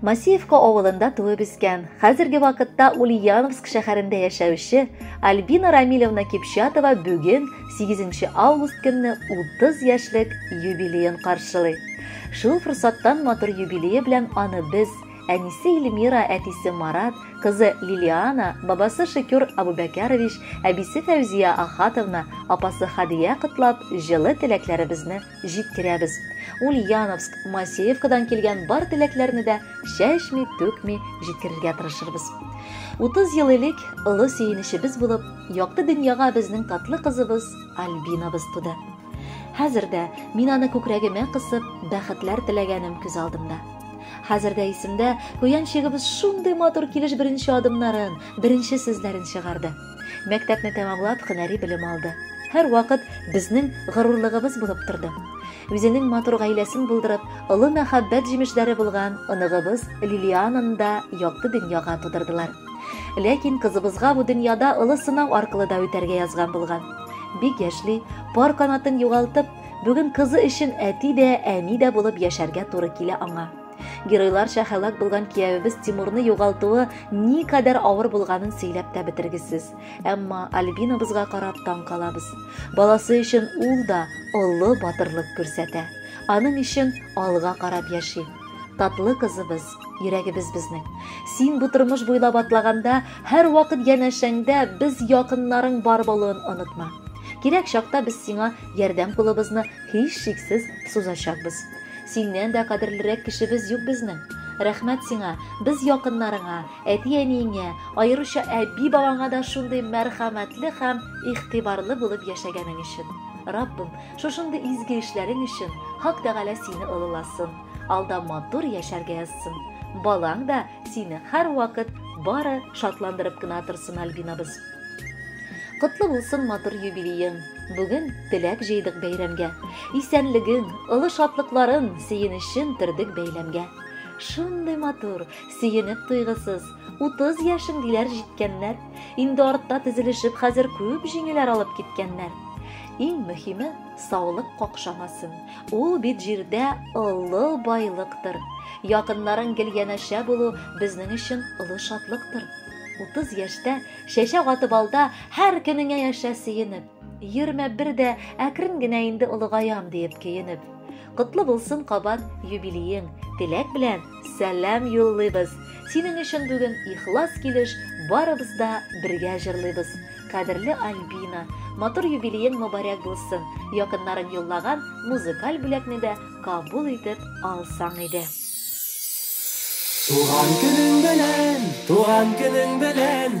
Масеевка авылында туып үскән, хәзерге вакытта Ульяновск шәһәрендә яшәүче Альбина Рамилевна Кипчатова бүген 8 август көнне 30 яшьлек юбилеен каршылый. Шул форсаттан матур юбилее белән аны без Әнисе Эльмира, әтисе Марат, кызы Лилиана, бабасы Шекюр Абубәкәрович, әбисе Фәүзия Ахатовна, апасы Хадия котлап, җылы теләкләребезне җиткерәбез. Ульяновск, Масеевкадан килгән бар теләкләрне дә чәчми, түкми җиткерергә тырышырбыз. 30 ел элек олы сөенечебез булып, якты дөньяга безнең татлы кызыбыз Альбинабыз туды. Хәзер дә мин аны күкрәгемә кысып, бәхетләр теләгәнем күз алдымда. Хәзер дә исемдә, куян чигебез шундый матур килеш беренче адымнарын, беренче сүзләрен чыгарды. Мәктәпне тәмамлап, һөнәри белем алды. Һәрвакыт безнең горурлыгыбыз булып торды. Үзенең матур гаиләсен булдырып, олы мәхәббәт җимешләре булган оныгыбыз Лилиананы да якты дөньяга тудырдылар. Ләкин кызыбызга бу дөньяда олы сынау аркылы да үтәргә язган булган. Бик яшьли, пар канатын югалтып, бүген кызы өчен әти дә, әни дә булып яшәргә туры килә аңа. Геройларча һәлак булган киявебез Тимурны югалтуы ни кадәр авыр булганын сөйләп тә бетергесез. Әмма Альбинабызга карап таң калабыз. Баласы өчен ул да олы батырлык күрсәтә. Аның өчен алга карап яши. Татлы кызыбыз Йөрәгебез безнең. Син бу тормыш буйлап атлаганда, һәрвакыт янәшәңдә без якыннарың бар булуын онытма. Кирәк чакта без сиңа ярдәм кулыбызны һичшиксез сузачакбыз. Синнән дә кадерлерәк кешебез юк безнең. Рәхмәт сиңа, без якыннарыңа, әти-әниеңә, аеруча әби-бабаңа да шундый мәрхәмәтле һәм игътибарлы булып яшәгәнең өчен. Раббым, шушындый изге эшләрең өчен Хак Тәгалә сине олыласын. алда матур яшәргә язсын. Балаң да сине һәрвакыт бары шатландырып кына торсын, Альбинабыз. Котлы булсын матур юбилеең. Бүген теләк җыйдык бәйрәмгә. Исәнлеген, олы шатлыкларын, сөенечен төрдек бәйләмгә. Шундый матур, сөенеп туйгысыз, 30 яшен диләр җиткәннәр. Инде артта тезелешеп, хәзер күп җиңүләр алып киткәннәр. Иң мөһиме, саулык какшамасын. Ул бит җирдә олы байлыктыр. Якыннарың гел янәшә булу безнең өчен олы шатлыктыр. Утыз яшьтә, чәчәк атып алда, һәр көнеңә яшә сөенеп. Йөрмә бер дә, әкрен генә инде олыгаям, диеп көенеп. Котлы булсын кабат юбилеең, теләк белән, Сәлам юллыйбыз! Синең өчен бүген ихлас килеш барыбыз да бергә җырлыйбыз. Кадерле Альбина, матур юбилеең мобарәк булсын, якыннарың юллаган музыкаль бүләкне дә кабул итеп алсаң иде. Туган көнең белән, туган көнең белән!